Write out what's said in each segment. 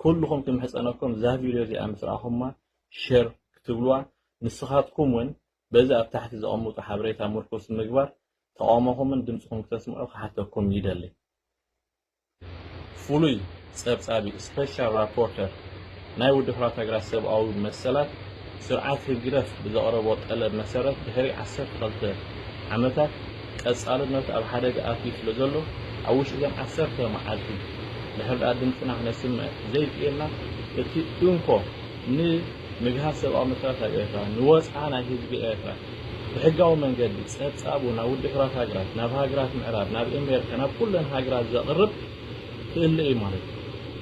ኩሉኹም ክምሕጸነኩም እዛ ቪድዮ እዚኣ ምስ ረኣኹማ ሸር ክትብሉዋ ንስኻትኩም ውን በዚ ኣብ ታሕቲ ዘቐምጡ ሓበሬታ ምርኩስ ምግባር ተቓውሞኹምን ድምጽኹም ክተስምዑ ክሓተኩም ይደሊ። ፍሉይ ጸብጻቢ፣ Special Rapporteur፣ ናይ ውድብ ሕቡራት ሃገራት ሰብኣዊ መሰላት፣ ስርዓት ህግደፍ ብዘቕረቦ ጠለብ መሰረት ድሕሪ ዓሰርተ ክልተ ዓመታት ቀጻልነቱ ኣብ ሓደጋ ኣትዩ ስለዘሎ ኣብ ውሽጢ እዘን ዓሰርተ መዓልቲ ድሕሪ ድኣ ድምጽና ክነስምዕ ዘይክኢልና እቲ እንኮ ን ምግሃስ ሰብኣዊ መሰላት ኣብ ኤርትራ ንወጽዓ ናይ ህዝቢ ኤርትራ ብሕጋዊ መንገዲ ጸብጻቡ ናብ ውድሕራት ሃገራት ናብ ሃገራት ምዕራብ ናብ ኤሜሪካ ናብ ኩለን ሃገራት ዘቕርብ ክእለ እዩ ማለት እዩ።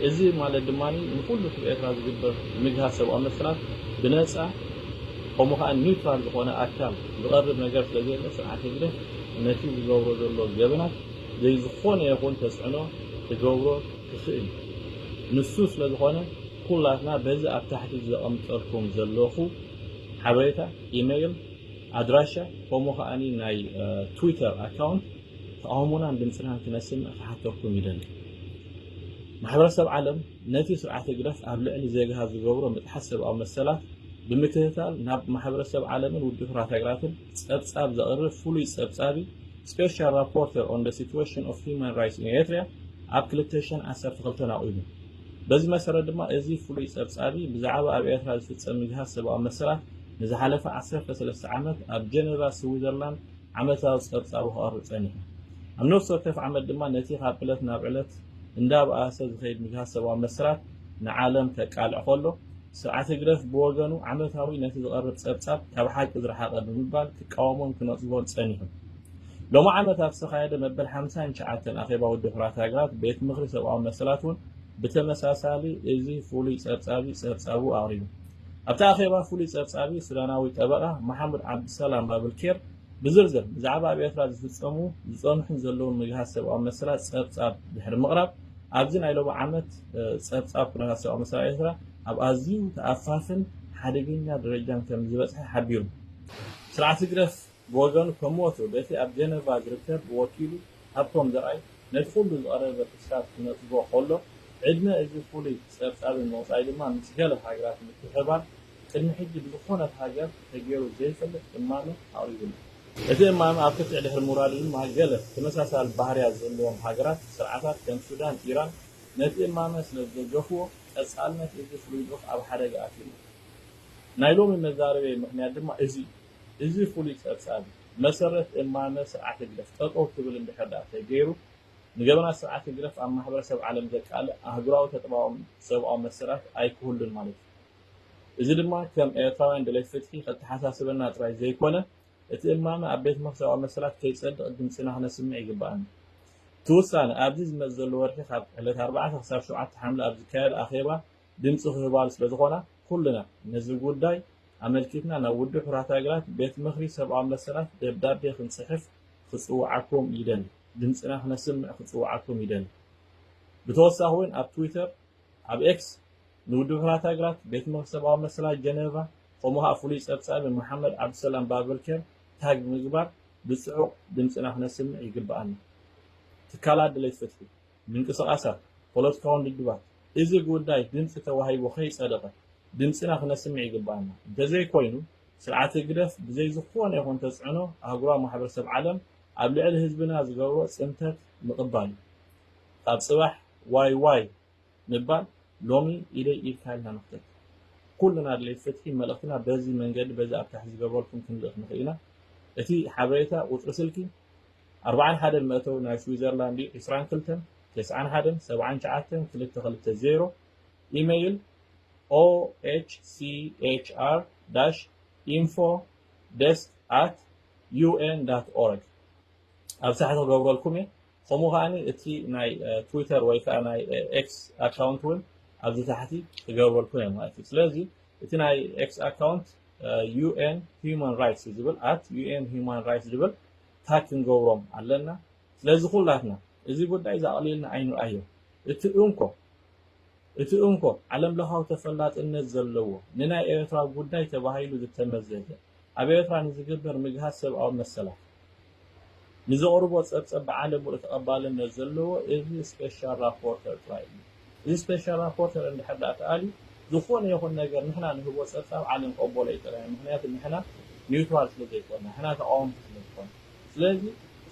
እዚ ማለት ድማ ንኹሉ እቲ ብኤርትራ ዝግበር ምግሃስ ሰብኣዊ መሰላት ብነጻ ከምኡ ከኣ ኒውትራል ዝኾነ ኣካል ዝቐርብ ነገር ስለ ዘየለ ስርዓት ህግደፍ ነቲ ዝገብሮ ዘሎ ገበናት ዘይዝኾነ ይኹን ተጽዕኖ ክገብሮ ክኽእል እዩ። ንሱ ስለ ዝኾነ ኩላትና በዚ ኣብ ታሕቲ ዘቐምጠልኩም ዘለኹ ሓበሬታ ኢመይል ኣድራሻ ከምኡ ከኣ ናይ ትዊተር ኣካውንት ተቓውሞናን ድምጽናን ክነስምዕ ክሓተኩም ይደሊ። ማሕበረሰብ ዓለም ነቲ ስርዓት ህግደፍ ኣብ ልዕሊ ዜጋታት ዝገብሮ ምጥሓስ ሰብኣዊ መሰላት ብምክትታል ናብ ማሕበረሰብ ዓለምን ውድብ ሕራት ሃገራትን ጸብጻብ ዘቕርብ ፍሉይ ጸብጻቢ Special Rapporteur on the Situation of Human Rights in Eritrea ኣብ ክልተ ሽሕን ዓሰርተ ክልተን ኣቑሙ። በዚ መሰረት ድማ እዚ ፍሉይ ጸብጻቢ ብዛዕባ ኣብ ኤርትራ ዝፍጸም ምግሃስ ሰብኣዊ መሰላት ንዝሓለፈ ዓሰርተ ሰለስተ ዓመት ኣብ ጀነቫ ስዊዘርላንድ ዓመታዊ ጸብጻቡ ከቕርብ ጸኒሑ። ኣብ ነፍሲ ወከፍ ዓመት ድማ ነቲ ካብ ዕለት ናብ ዕለት እንዳበኣሰ ዝኸይድ ምግሃስ ሰብኣዊ መስራት ንዓለም ከቃልዕ ከሎ፣ ስርዓት ህግደፍ ብወገኑ ዓመታዊ ነቲ ዝቐርብ ጸብጻብ ካብ ሓቂ ዝረሓቐ ብምባል ክቃወሞን ክነጽጎን ጸኒሑ። ሎሚ ዓመት ኣብ ዝተኻየደ መበል ሓምሳን ትሽዓተን ኣኼባ ውድብ ሕቡራት ሃገራት፣ ቤት ምኽሪ ሰብኣዊ መሰላት እውን ብተመሳሳሊ እዚ ፍሉይ ጸብጻቢ ጸብጻቡ ኣቕሪቡ። ኣብቲ ኣኼባ ፍሉይ ጸብጻቢ ሱዳናዊ ጠበቓ መሓሙድ ዓብዱሰላም ባብልኬር ብዝርዝር ብዛዕባ ኣብ ኤርትራ ዝፍጸሙ ዝጸንሑን ዘለዉን ምግሃስ ሰብኣዊ መሰላት ጸብጻብ ድሕሪ ምቕራብ ኣብዚ ናይ ሎሚ ዓመት ጸብጻብ ኩነታት ሰብኣዊ መሰላት ኤርትራ ኣብ ኣዝዩ ተኣፋፍን ሓደገኛ ደረጃን ከም ዝበጽሐ ሓቢሩ። ስርዓት ህግደፍ ብወገኑ ከም ወትሩ በቲ ኣብ ጀነቫ ዝርከብ ወኪሉ ሃብቶም ዘርኣይ ነቲ ኩሉ ዝቐረበ ክስታት ክነጽጎ ከሎ፣ ዕድመ እዚ ፍሉይ ጸብጻብን ምቕጻይ ድማ ምስ ገለ ሃገራት ምትሕብባር ቅድሚ ሕጂ ብዝኾነት ሃገር ተጌሩ ዘይፈልጥ እማመ ኣቕሪቡሉ። እቲ እማመ ኣብ ክትዕ ድሕሪ ምውራዱ ድማ ገለ ተመሳሳሊ ባህርያት ዘለዎም ሃገራት ስርዓታት ከም ሱዳን ኢራን ነቲ እማመ ስለዝደገፍዎ ቀጻልነት እዚ ፍሉይ ልኡኽ ኣብ ሓደጋ ኣትዩ'ሎ። ናይ ሎሚ መዛረብየይ ምኽንያት ድማ እዚ እዩ። እዚ ፍሉይ ጸብጻብ፣ ብመሰረት እማመ ስርዓት ህግደፍ ጠጠው ክብል እንድሕር ድኣ ተገይሩ፣ ንገበናት ስርዓት ህግደፍ ኣብ ማሕበረሰብ ዓለም ዘቃልዕ ኣህጉራዊ ተጥባኦም ሰብኣዊ መሰላት ኣይክህሉን ማለት እዩ። እዚ ድማ ከም ኤርትራውያን ደለይቲ ፍትሒ ከተሓሳስበና ጥራይ ዘይኮነ፣ እቲ እማመ ኣብ ቤት ምኽሪ ሰብኣዊ መሰላት ከይጸድቕ ድምጽና ክነስምዕ ይግበኣና። እቲ ውሳነ፣ ኣብዚ ዝመጽእ ዘሎ ወርሒ ካብ ዕለት ኣርባዕተ ክሳብ ሸውዓተ ሓምለ ኣብ ዝካየድ ኣኼባ፣ ድምፂ ክህባሉ ስለዝኾና ኩልና ነዚ ጉዳይ ኣመልኪትና ናብ ውድብ ሕቡራት ሃገራት ቤት ምኽሪ ሰብኣዊ መሰላት ደብዳቤ ክንፅሕፍ ክፅውዓኩም ይደሊ ድምፅና ክነስምዕ ክፅውዓኩም ይደሊ ብተወሳኺ እውን ኣብ ትዊተር ኣብ ኤክስ ንውድብ ሕቡራት ሃገራት ቤት ምኽሪ ሰብኣዊ መሰላት ጀነቫ ከምኡ ከዓ ፍሉይ ፀብፃቢ መሓመድ ዓብዱሰላም ባብልኬር ታግ ብምግባር ብፅዑቕ ድምፅና ክነስምዕ ይግበኣና ትካላት ድሌት ፍትሒ ምንቅስቓሳት፣ ፖለቲካውን ልድባት እዚ ጉዳይ ድምጺ ተዋሂቡ ከይጸደቐ ድምጺና ክነስምዕ ይግብኣና። እንተዘይኮይኑ ስርዓት ህግደፍ ብዘይ ዝኾነ ይኹን ተጽዕኖ ኣህጉራዊ ማሕበረሰብ ዓለም ኣብ ልዕሊ ህዝብና ዝገብሮ ጽንተት ምቕባል እዩ። ካብ ጽባሕ ዋይ ዋይ ምባል ሎሚ ኢደይ ኢድካ ኢልና ንኽተት። ኩልና ኣድለይቲ ፍትሒ መልእኽትና በዚ መንገዲ በዚ ኣብ ታሕቲ ዝገብረልኩም ክንልእኽ ንኽእል ኢና። እቲ ሓበሬታ ቁጽሪ ስልኪ። ኣርብዓን ሓደን መእተዊ ናይ ስዊዘርላንድ እዩ ዕስራን ክልተን ተስዓን ሓደን ሰብዓን ሸዓተን ክልተ ክልተ ዜሮ ኢመይል OHCHR dash info desk at un dot org ኣብ ሳሕቲ ክገብረልኩም እየ ከምኡ ከኣ እቲ ናይ ትዊተር ወይ ከኣ ናይ ኤክስ ኣካውንት እውን ኣብዚ ታሕቲ ክገብረልኩም እየ ማለት እዩ ስለዚ እቲ ናይ ኤክስ ኣካውንት UN Human Rights ዝብል at UN Human Rights ዝብል ታይ ክንገብሮም ኣለና ስለዚ ኩላትና እዚ ጉዳይ እዚ ኣቅሊልና ኣይንርኣዮ እቲ እንኮ እቲ እንኮ ዓለም ለኻዊ ተፈላጥነት ዘለዎ ንናይ ኤረትራ ጉዳይ ተባሂሉ ዝተመዘዘ ኣብ ኤረትራ ንዝግበር ምግሃስ ሰብኣዊ መሰላት ንዘቅርቦ ጸብጸብ ብዓለም ሙሉእ ተቀባልነት ዘለዎ እዚ ስፔሻል ራፖርተር ጥራይ እዩ። እዚ ስፔሻል ራፖርተር እንድሕር ድኣ ተኣልዩ ዝኾነ ይኹን ነገር ንሕና ንህቦ ጸብጻብ ዓለም ክቕበሎ እዩ ጥራይ ምኽንያቱ ንሕና ኒውትራል ስለ ዘይኮና ንሕና ተቓወምቲ ስለ ዝኾና ስለዚ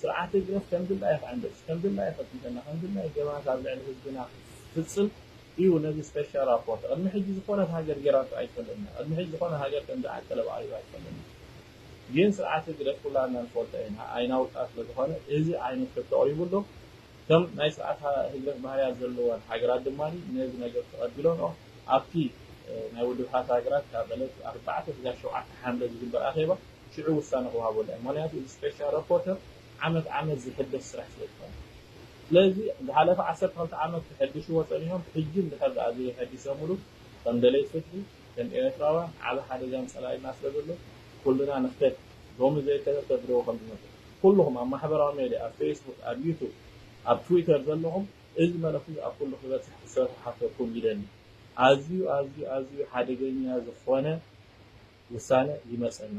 ስርዓት ህግደፍ ከም ድላዩ ክዕንድር ከም ድላዩ ከጽንተና ከም ድላዩ ገበናት ኣብ ልዕሊ ህዝብና ክፍጽም እዩ ነዚ ስፔሻል ራፖርተር ቅድሚ ሕጂ ዝኾነት ሃገር ጌራቶ ኣይትፈልጥን እያ ቅድሚ ሕጂ ዝኾነ ሃገር ከምዚ ዓንቀለብ ኣቕሪባ ኣይትፈልጥን እያ ግን ስርዓት ህግደፍ ኩላትና ንፈልጦ ኢና ኣይናውጣ ስለ ዝኾነ እዚ ዓይነት ሕቶ ኣቕሪቡ ኣሎ ከም ናይ ስርዓት ህግደፍ ባህርያት ዘለወን ሃገራት ድማ ነዚ ነገር ተቐቢለንኦ ኣብቲ ናይ ውድብ ሕብሓት ሃገራት ካብ ዕለት ኣርባዕተ ስጋብ ሸውዓተ ሓምለ ዝግበር ኣኼባ ሽዑ ውሳነ ክወሃበሉ እዩ ምክንያቱ እዚ ስፔሻል ራፖርተር ዓመት ዓመት ዝሕደስ ስራሕ ስለ ዝኾነ ስለዚ ዝሓለፈ ዓሰርተ ክልተ ዓመት ከሐድሽዎ ጸኒሖም ሕጂ እንድሕር ድኣ ዘይሐዲሰሙሉ ከም ደለይቲ ፍትሒ ከም ኤረትራውያን ዓቢ ሓደጋን ጸላኢና ስለ ዘሎ ኩልና ንክተት ሎሚ ዘይከደ ተድርቦ ከም ዝመጸ ኩሉኹም ኣብ ማሕበራዊ ሜድያ ኣብ ፌስቡክ ኣብ ዩቱብ ኣብ ትዊተር ዘለኹም እዚ መልእኽቲ እዚ ኣብ ኩሉ ክበጽሕ ክትሰርሑ ክሓተኩም ይደሊ ኣዝዩ ኣዝዩ ኣዝዩ ሓደገኛ ዝኾነ ውሳነ ይመጸና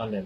ኣሎ።